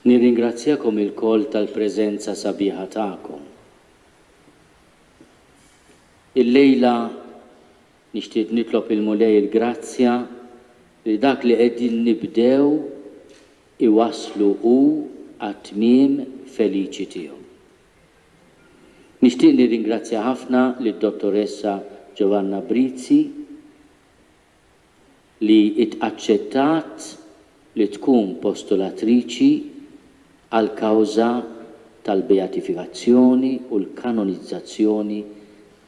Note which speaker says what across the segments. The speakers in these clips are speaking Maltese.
Speaker 1: Nirringrazzjakom ilkoll tal-preżenza sabiħa tagħkom. Illejla nixtieq nitlob il-Mulej il-grazzja li dak li qegħdin nibdew iwasslu hu għat-tmiem feliċi tiegħu. Nixtieq nirringrazzja ħafna lid-Dottoressa Joanna Brizzi li aċċettat li tkun postulatriċi għall-kawża tal-beatifikazzjoni u l-kanonizzazzjoni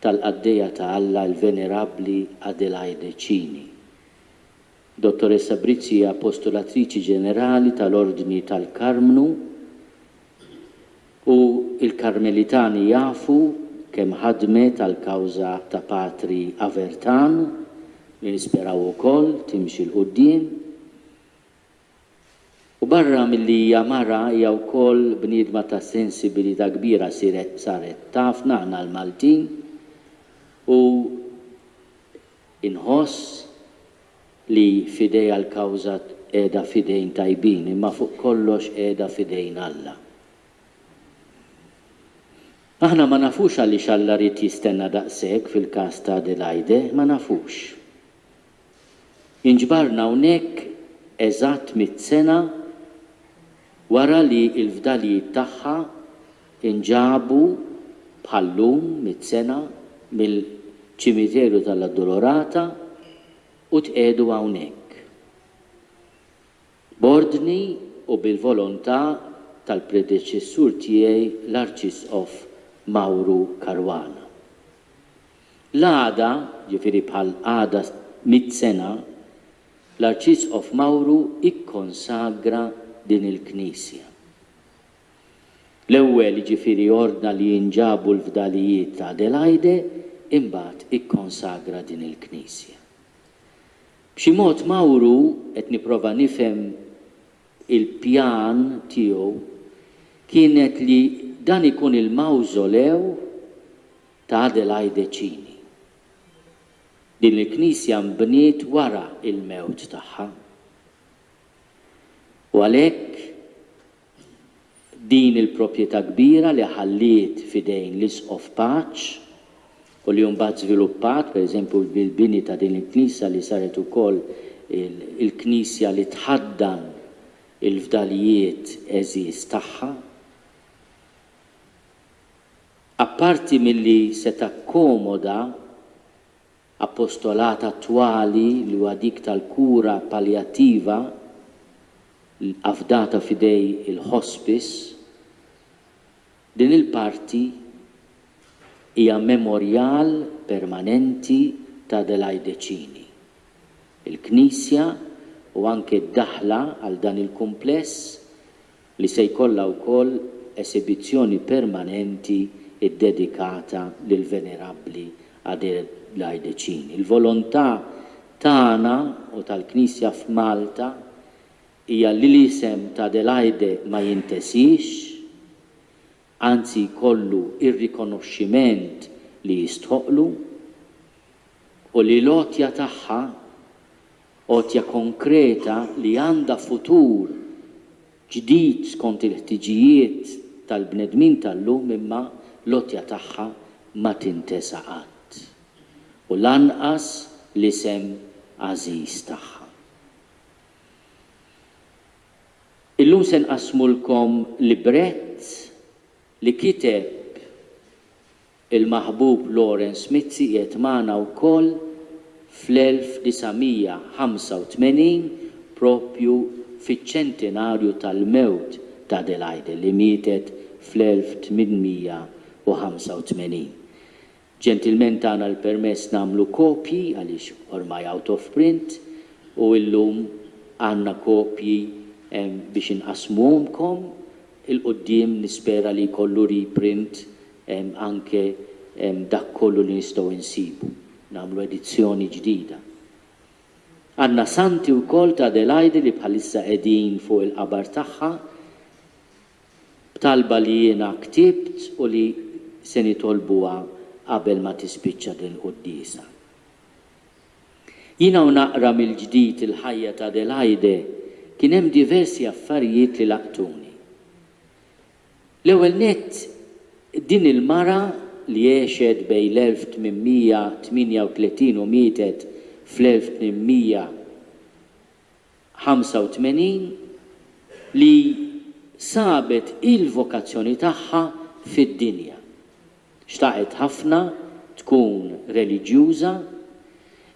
Speaker 1: tal-Qaddejja ta' Alla il-Venerabbli Adelaide Cini. Dottoressa Brizzi hija postulatriċi ġenerali tal-Ordni tal-Karmnu U l-Karmelitani jafu kemm ħadmet għall-kawża ta' Patri Avertan, li nisperaw ukoll timxi 'l quddiem. U barra milli hija mara, hija wkoll bniedma ta' sensibilità kbira, siret saret tafna aħna l-Maltin, u inħoss, li f'idejha l-kawża qiegħda f'idejn tajbin, imma fuq kollox qiegħda f'idejn Alla. Aħna ma nafux għaliex Alla ried jistenna daqshekk fil-każ ta' Adelaide, ma nafux. Inġbarna hawnhekk eżatt mitt sena wara li l-fdalijiet tagħha, Inġabu bħal-lum mitt sena mill-Ċimiterju tal-Addolorata u tqiegħdu hawnhekk. B'ordni u bil-volontà tal-predeċessur tiegħi l-Arċisqof Mauro Caruana. L-għada, ġifieri bħal għada mitt sena, l-Arċisqof Mauro ikkonsagra din il-knisja. L-ewwel jiġifieri ordna li jinġabu l-fdalijiet ta' Adelaide imbagħad ikkonsagra din il-knisja. B'xi mod Mawru qed nipprova nifhem il-pjan tiegħu kienet li dan ikun il-mawżolew ta' Adelaide Cini. Din il-knisja nbniet wara il-mewt tagħha u għalhekk din il-proprjetà kbira li ħalliet f'idejn l-Isqof Paċ u li mbagħad żviluppat, per eżempju, bil-bini ta' din il-knisja li saret ukoll il-knisja li tħaddan il-fdalijiet għeżież tagħha. Apparti milli se takkomoda. Appostolat attwali li huwa dik tal-kura paljattiva afdata f'idej il-hospice, din il-parti hija memorjal permanenti ta' Adelaide Cini. Il-knisja u anke d-daħla għal dan il-kumpless li se jkollha wkoll esibizzjoni permanenti ddedikata lill-Venerabbli Adelaidecin. Il-volontà tagħna u tal-Knisja f'Malta hija li l-isem ta' Adelaide ma jintesiex, anzi jkollu r-rikonoxximent li jistħoqqlu, u li l-għotja tagħha Għotja konkreta li għandha futur ġdid skont il-ħtiġijiet tal-bnedmin tal-lum imma l-għotja tagħha ma tintesa qatt. U lanqas l-isem għażiż tagħha. Illum se nqassmulkom librett li kiteb. Il-maħbub Lawrence Mizzi qiegħed magħna wkoll fl-1985 proprju fiċ-ċentinarju tal-mewt t'Adelaide li mietet fl-1885. Ġentilment tana l-permess nagħmlu kopji għaliex ormai out of print u illum għandna kopji biex inqassmuhomkom, il-quddiem nispera li jkollu reprint anke dak kollu li nistgħu insibu, nagħmlu edizzjoni ġdida. Għandna Santi wkoll ta' Adelaide li bħalissa qegħdin fuq il-qabar tagħha b'talba li jiena ktibt u li se nitolbuha qabel ma tispiċċa din il-quddiesa. Jiena u naqra mill-ġdid il-ħajja ta' Adelaide kien hemm diversi affarijiet li laqtuni. L-ewwel nett, din il-mara li għexet bejn l-1838 u mietet fl-1885, li sabet il-vokazzjoni tagħha fid-dinja. Xtaqet ħafna tkun reliġjuża,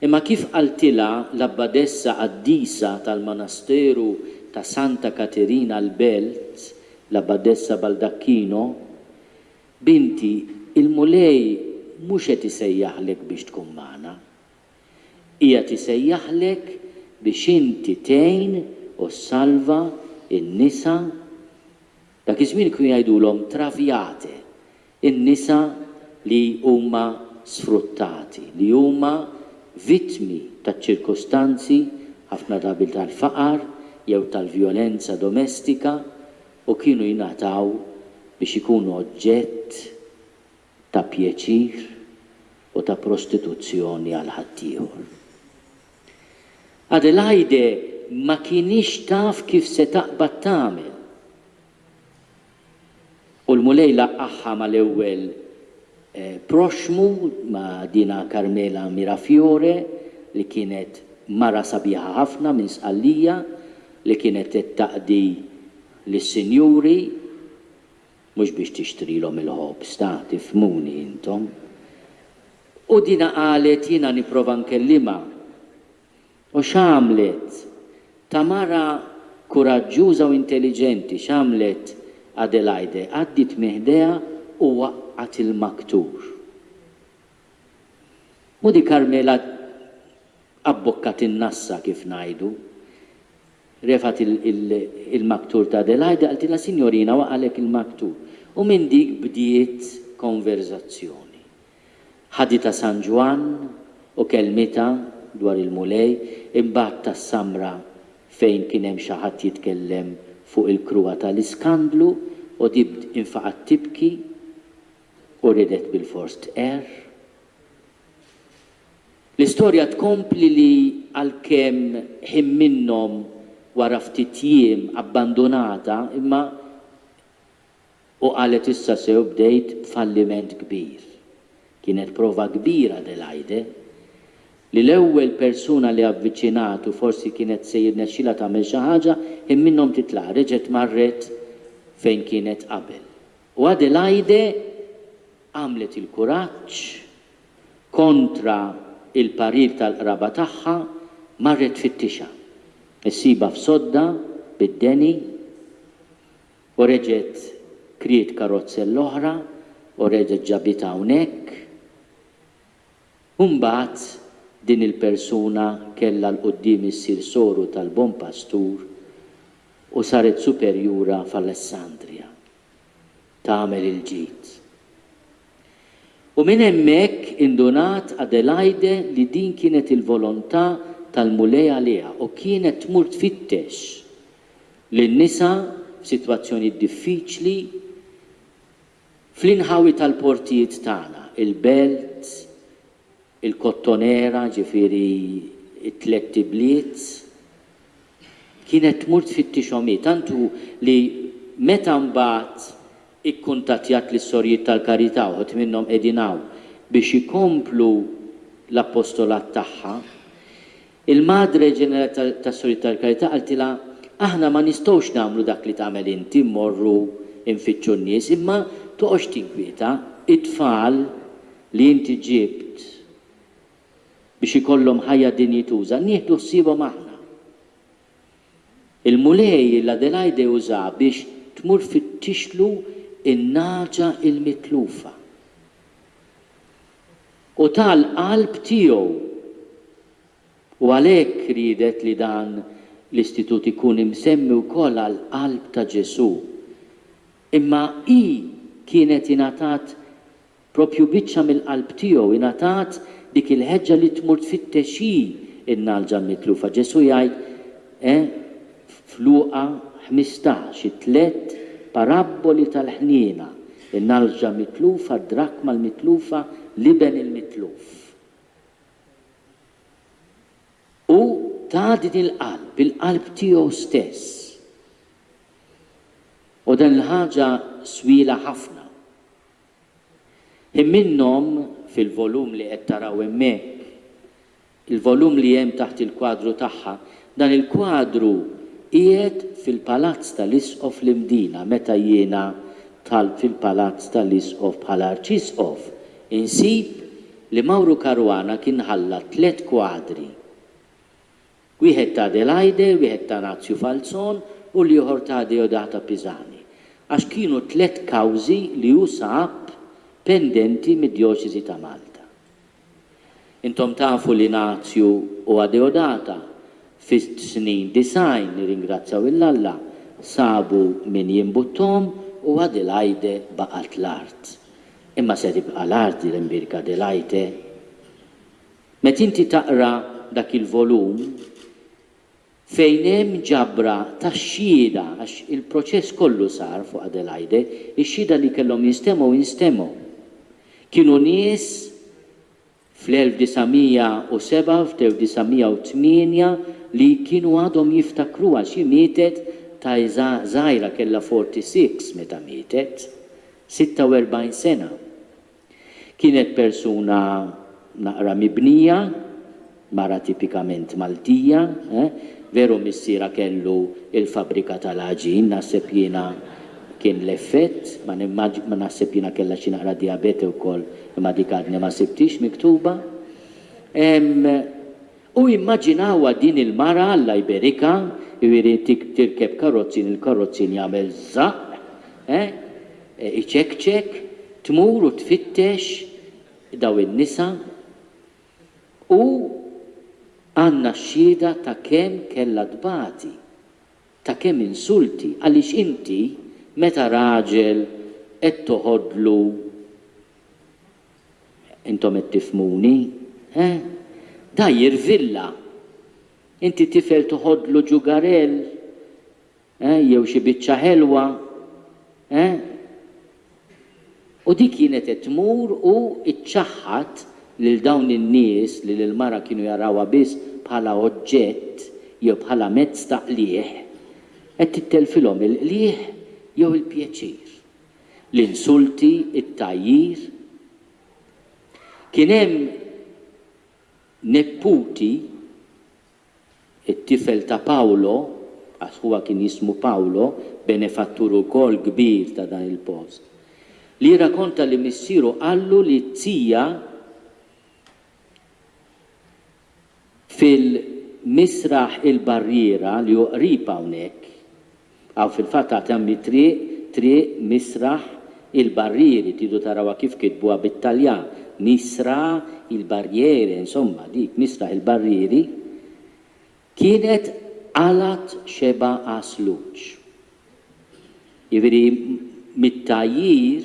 Speaker 1: imma kif qaltilha l-Abbadessa Qaddisa tal-Manasteru ta' Santa Katerina l-Belt, l-Abbadessa Baldacchino, Binti, il-Mulej mhux qed isejjaħlek biex tkun magħna. Qiegħed isejjaħlek biex inti tgħin u ssalva n-nisa Dak iż-żmien kienu jgħidulhom traviate, in-nisa li huma sfruttati, li huma vittmi taċ-ċirkustanzi, ħafna drabi tal-faqar jew tal-vjolenza domestika, u kienu jingħataw biex ikunu oġġett ta' pjaċir u ta' prostituzzjoni għal ħaddieħor. Adelaide ma kinitx taf kif se taqbad tagħmel. U l-Mulej laqqagħha mal-ewwel proxxmu, ma' dinha Carmela Mirafiore li kienet mara sabiħa ħafna minn Sqallija li kienet qed taqdi lis-sinjuri. Mhux biex tixtrilhom il-ħobż ta' tifhmuni intom. U dinha qalet jiena nipprova nkellimha. U x'għamlet? Ta' mara kuraġġuża u intelliġenti, x'għamlet Adelaide? Għaddiet minn ħdejha u waqqgħet il-maktur. U di Carmela abbokkat in-nassa kif ngħidu. Refgħet il-maktur ta' Adelaide, qaltilha Sinjorina waqagħlek il-maktur. U minn dik bdiet konverżazzjoni. Ħaditha San Ġwann u kellmitha dwar il-Mulej, imbagħad tas-Samra fejn kien hemm xi ħadd jitkellem fuq il-kruha tal-iskandlu u di infaqgħet tibki u ridet bilfors tqerr. L-istorja tkompli li għalkemm ħin minnhom wara ftit jiem abbandunata imma u qalet issa sew bdejt falliment kbir. Kienet prova kbira Adelaide li l-ewwel persuna li avviċinat u forsi kienet se jirnexxilha tagħmel xi ħaġa ħin minnhom titlaq reġgħet marret fejn kienet qabel. U Adelaide għamlet il-kuraġġ kontra l-parir tal-qraba tagħha, marret tfittixha. Issibha f'sodda bid-deni u reġgħet kriet karozza l-oħra u reġgħet ġabitha hawnhekk. U mbagħad din il-persuna kellha 'l quddiem issir soru tal-Bon Pastur u saret superjura f'Alessandria. tagħmel il-ġid. U minn hemmhekk indunat Adelaide li din kienet il-volontà tal-Mulej għaliha u kienet tmur tfittex lil nisa f'sitwazzjonijiet diffiċli fl-inħawi tal-portijiet tagħna, il-belt, il-Kottonera, ġifieri t-tlett ibliet, kienet tmur tfittixhom hi, tant hu li meta mbagħad ikkuntattjat lis-Sorijiet tal-Karità, uħud minnhom qegħdin hawn, biex ikomplu l-appostolat tagħha, Il-Madre Ġenerali ta' tas-Sorijiet tal-Karità qaltilha, Aħna ma nistgħux nagħmlu dak li tagħmel inti, mmorru nfittxu n-nies, imma toqgħodx tinkwieta, it-tfal li inti ġibt biex ikollhom ħajja dinjituża, nieħdu ħsiebhom aħna. Il-Mulej lil Adelaide uża biex tmur fittixlu n-nagħġa l-mitlufa. u ta l-qalb tiegħu u għalhekk riedet li dan l-istitut ikun imsemmi wkoll għall-qalb ta' Ġesù. Imma hi kienet ingħatat proprju biċċa mill-qalb tiegħu, ingħatat dik il-ħeġġa li tmur tfittex hi n-nagħlġa mitlufa. Ġesù jgħid, E f'Luqa ħmistax, it-tliet parabboli tal-ħniena, in-nalġa mitlufa, d-drakma l-mitlufa, l-iben il-mitluf. Hu tani l-qalb, il-qalb tiegħu stess. U din il-ħaġa swiela ħafna. Hi minnhom, fil-volum li qed taraw hemmhekk, il-volum li hemm taħt il-kwadru tagħha. Dan il-kwadru qiegħed fil-Palazz tal-Isqof l-Imdina meta jiena dħalt fil-Palazz tal-Isqof bħala Arċisqof, insib li Mawru Caruana kien ħalla tliet kwadri. wieħed ta' Adelaide, wieħed ta' Razio Falzon u l-ieħor ta' Deodata Pisani, għax kienu tliet kawżi li hu sab pendenti mid-Djoċesi ta' Malta. Intom tafu li Nazju u Adeodata fis-snin disgħin, nirringrazzjaw 'il Alla, sabu min jimbutthom u Adelaide baqgħet l-art. Imma se tibqa' l-art din l-imbierka Adelaide? Meta inti taqra dak il-volum, fejn hemm ġabra ta' xhieda, għax il-proċess kollu sar fuq Adelaide, ix-xhieda li kellhom jinstemgħu instemgħu. Kienu nies fl-1907, f'dew-1908 li kienu għadhom jiftakruha, xi mietet ta' Isa żgħira kellha 46 meta mietet, 46 sena. Kienet persuna naqra mibnija, mara tipikament Maltija, eh. Veru missierha kellu il-fabbrika tal-għaġin, naħseb jiena kien l-effett, ma nimmaġ, ma naħseb jiena kellha xi naqra dijabete wkoll, imma dik għadni ma sibthiex miktuba. Ehm, U immaġinawha din il-mara Alla jberikha, jiġifieri tirkeb karozzin, il-karozzin jagħmel żaqq, eh, iċekċek, tmur u tfittex dawn in-nisa, u għandna x-xhieda ta' kemm kellha tbati, ta' kemm insulti, għaliex inti meta raġel qed toħodlu Intom qed tifhmuni? He? Dgħajjir villa! Inti tifel toħodlu ġugarell? He? Jew xi biċċa ħelwa? He? U di kienet qed tmur u ċċaħħad lil dawn in-nies li lill-mara kienu jarawha biss bħala oġġett jew bħala mezz ta' qligħ. Qed tittelfilhom il-qligħ jew il-pjaċir. l-insulti, it-tgħajjir. Kien hemm nepputi, it-tifel ta' Paolo, għax ħuha kien jismu Paolo, benefattur ukoll kbir ta' dan il-post, li jirrakonta li missieru qallu li t-zija, Fil-Misraħ il-Barriera li hu qrib hawnhekk, hawn fil-fatt għad hemm it-triq, Triq Misraħ il-Barrieri, tridu tarawha kif kitbuha bit-Taljan, Misra il Barriere, insomma dik Misraħ il-Barrieri, kienet qalgħat xebgħa Għasluġ. Jiġifieri mit-tgħajjir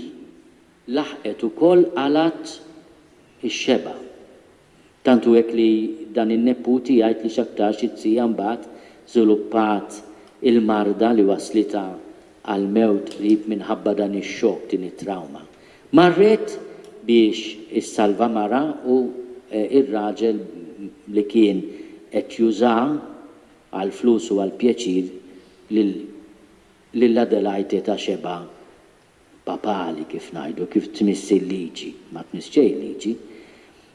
Speaker 1: laħqet ukoll qalgħat ix-xebgħa. Tant hu hekk li dan in-nepputi jgħid li x'aktarx it-tija mbagħad żviluppat il-marda li wasslitha għall-mewt qrib minħabba dan ix-xokk, din it-trawma. Marret biex issalva marha u r-raġel li kien qed juża għall-flus u għall-pjaċir lil Adelaide ta' xebgħa papali kif ngħidu, kif tmiss il-liġi, ma tmiss xejn il-liġi.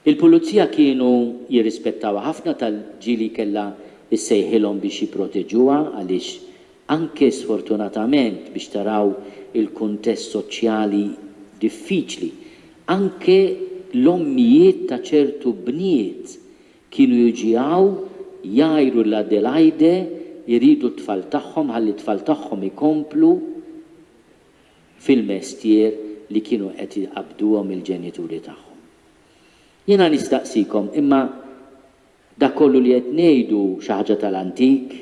Speaker 1: Il-pulizija kienu jirrispettawha ħafna tal ġieli kellha ssejħilhom biex jipproteġuha għaliex anke sfortunatament biex taraw il-kuntest soċjali diffiċli, anke l-ommijiet ta' ċertu bniet kienu jġiegħu jgħiru lil Adelaide jridu t-tfal tagħhom ħalli t-tfal tagħhom ikomplu fil-mestier li kienu qed iqabbduhom il-ġenituri tagħhom. Jiena nistaqsikom, imma dak kollu li qed ngħidu xi ħaġa tal-antik?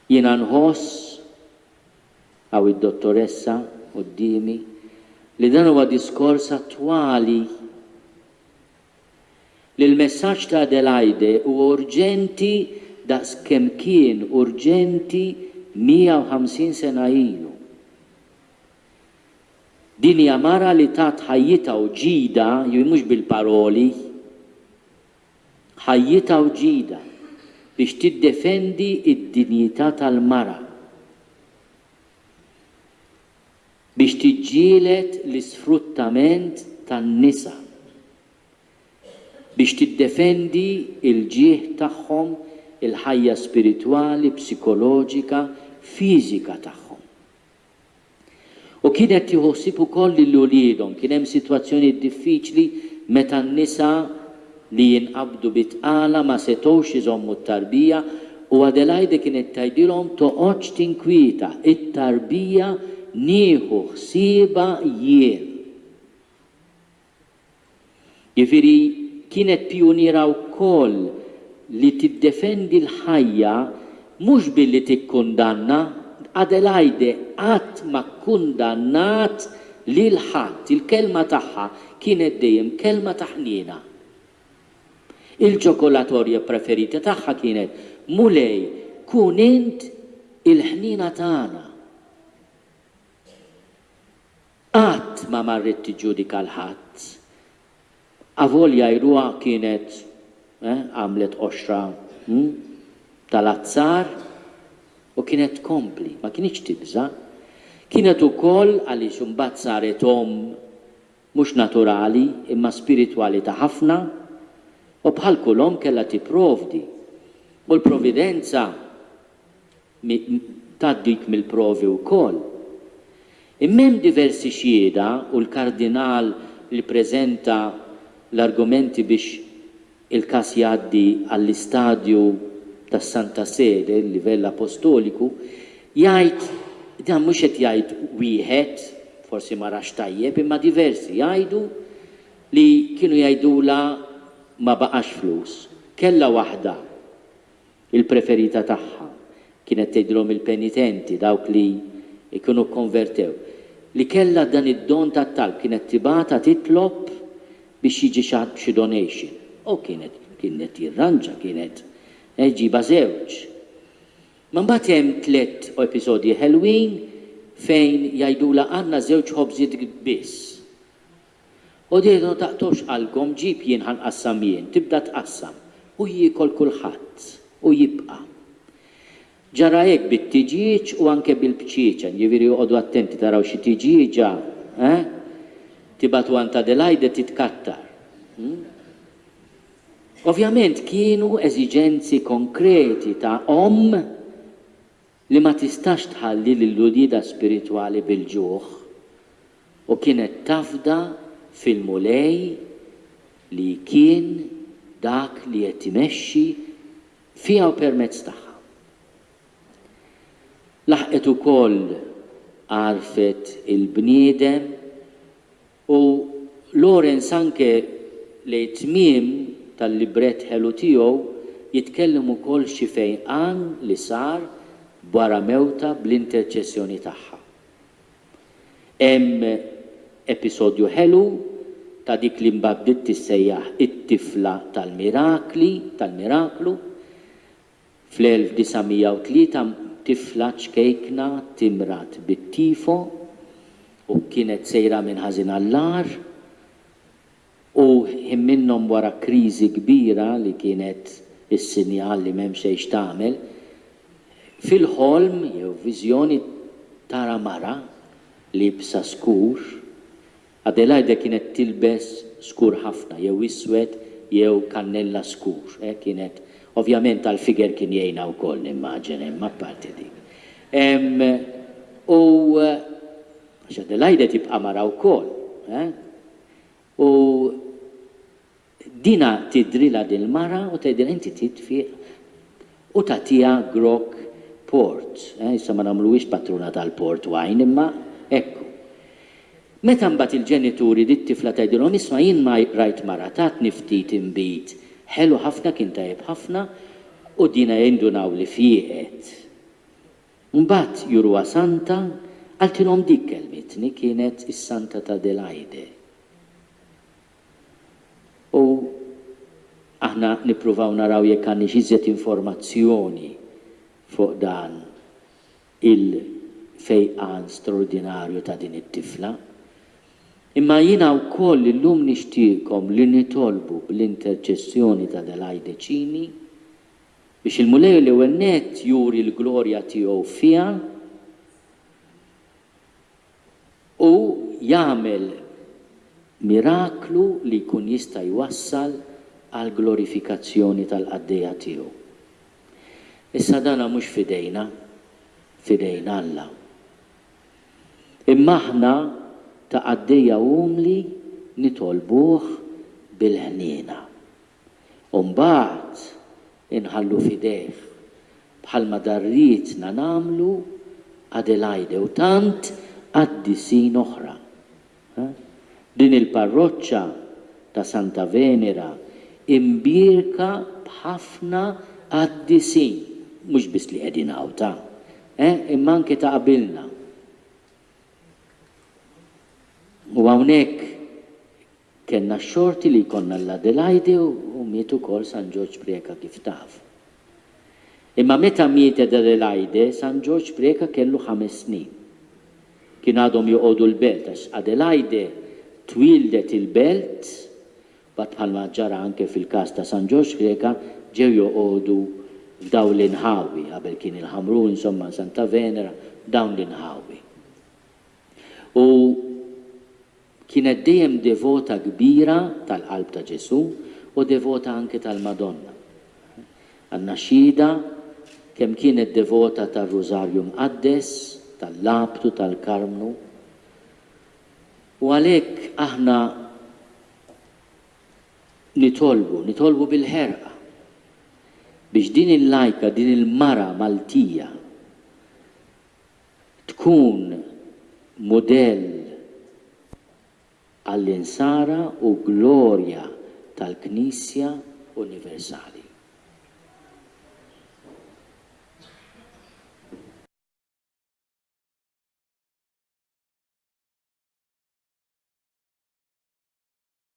Speaker 1: Jiena nħoss, hawn id-Dottoressa quddiemi, li dan huwa diskors attwali. li l-messaġġ ta' Adelaide huwa urġenti daqs kemm kien urġenti 150 sena ilu. Din hija mara li tat ħajjitha u ġidha, jiġifieri mhux bil-paroli, ħajjitha u ġidha biex tiddefendi d-dinjità tal-mara. biex tiġġieled l-isfruttament tan-nisa, biex tiddefendi l-ġieħ tagħhom, il-ħajja spiritwali, psikoloġika, fiżika tagħhom. U kienet tieħu ħsieb ukoll lil uliedhom. Kien hemm sitwazzjonijiet diffiċli meta n-nisa, li jinqabdu bi tqala ma setgħux iżommu t-tarbija u Adelaide kienet tgħidilhom toqgħodx tinkwieta, it-tarbija nieħu ħsiebha jien. Jiġifieri kienet pijuniera wkoll li tiddefendi l-ħajja Mhux billi tikkundanna, Adelaide qatt ma kkundannat lil ħadd, il-kelma tagħha kienet dejjem kelma ta' ħniena. Il-ċokolatorja preferita tagħha kienet, Mulej, kun int il-ħniena tagħna. Qatt ma marret tiġġudika 'l ħadd. Avolja jruha kienet, eh, għamlet qoxra, hm, tal-azzar u kienet tkompli, ma kinitx tibża'. Kienet ukoll, għaliex imbagħad saret omm mhux naturali imma spiritwali ta' ħafna, u bħal kull omm kellha tipprovdi. U l-providenza ta' dik mill-provi wkoll. Imma hemm diversi xhieda u l-Kardinal li ppreżenta l-argumenti biex il-każ jgħaddi għall-istadju tas-Santa Sede, il-livell apostoliku, jgħid, dan mhux qed jgħid wieħed, forsi ma rax tajjeb, imma diversi jgħidu li kienu jgħidulha ma baqax flus, kellha waħda Il-preferita tagħha kienet tgħidilhom il-penitenti, dawk li jkunu kkonvertew, li kellha dan id-don tat-talb, kienet tibgħatha titlob biex jiġi xi ħadd b'xi donation. O, kienet, kien qed jirranġa, kienet, eh, iġibha żewġ. Ma mbagħad hemm tliet episodji ħelwin fejn jgħidulha għandna żewġ ħobżiet biss. Għodiedu ma taqtgħux qalbkom, ġib jien ħa nqassam jien, tibda tqassam, u jiekol kulħadd, u jibqa'. Ġara hekk bit-tiġieġ u anke bil-bċieċa, jiġifieri oqogħdu attenti taraw xi tiġieġa, eh? tibagħtu għand Adelaide titkattar. Ovvjament kienu eżiġenzi konkreti ta' omm li ma tistax tħalli lil uliedha spiritwali bil-ġuħ, u kienet tafda fil-Mulej li kien dak li qed imexxi fiha u permezz tagħha. Laħqet ukoll għarfet il-bniedem U Lawrence anke lejn it-tmiem tal-librett ħelu tiegħu jitkellem ukoll xi fejqan li sar b'wara mewtha bl-interċessjoni tagħha. Hemm episodju ħelu ta' dik li mbagħad bdiet tissejjaħ it-tifla tal-mirakli, tal-miraklu, Fl-1903 tifla ċkejkna timrad bit-tifo u kienet sejra minn ħażin għall-agħar u ħin minnhom wara kriżi kbira li kienet is-sinjal li m'hemm xejn x'tagħmel, fil-ħolm jew viżjoni tara mara liebsa skur Adelaide kienet tilbes skur ħafna, jew iswed jew kannella skur, eh, kienet, ovvjament għall-figure kien jgħinha wkoll nimmaġen, imma apparti dik. Ehm, u, għax Adelaide tibqa' mara wkoll, eh? U Dina tidrilha dil-mara u tgħidilha inti trid tfieq u tagħtiha grokk port, eh, issa ma nagħmluhiex patruna tal-port wine imma hekk hu. Meta mbagħad il-ġenituri lit-tifla tgħidilhom isma' jien ma rajt mara tatni ftit inbid ħelu ħafna kien tajjeb ħafna u dina jindunaw li fieqet. Mbagħad juruha santa, qaltilhom dik kellmitni kienet is-Santa t'Adelaide. u aħna nippruvaw naraw jekk għandniex iżjed informazzjoni fuq dan il-fejqan straordinarju ta' din it-tifla. Imma jiena wkoll illum nixtieqkom li nitolbu bl-interċessjoni t'Adelaide Cini biex il-Mulej l-ewwel nett juri l-glorja tiegħu fiha, Hu jagħmel miraklu li jkun jista' jwassal għall-glorifikazzjoni tal-qaddejja tiegħu. Issa dan mhux f'idejna, f'idejn Alla. Imma aħna ta' qaddejja umli nitolbuh bil-ħniena. u mbagħad inħallu f'idejh bħalma darrietna nagħmlu Adelaide u tant qaddisin oħra. Din il-parroċċa ta' Santa Venera imbierka b'ħafna qaddisin, mhux biss li qegħdin hawn ta', imma anke ta' qabilna. U hawnhekk Kellna x-xorti li jkollna l-Adelaide u miet ukoll San Ġorġ Preca kif taf. Imma meta mietet Adelaide, San Ġorġ Preca kellu ħames snin. Kien għadhom joqogħdu l-belt għax Adelaide twieldet il-belt u għad bħalma ġara anke fil-każ ta' San Ġorġ Preca ġew joqogħdu f'dawn l-inħawi, qabel kien il-Ħamrun insomma Santa Venera, dawn l-inħawi. U Kienet dejjem devota kbira tal-Qalb ta' Ġesù u devota anke tal-Madonna. Għandna xhieda kemm kienet devota tar-Rużarju Mqaddes, tal-Labd u tal-Karmnu. U għalhekk aħna nitolbu, nitolbu bil-ħerqa biex din il-lajka, din il-mara Maltija Tkun mudell għall-Insara u glorja tal-Knisja universali.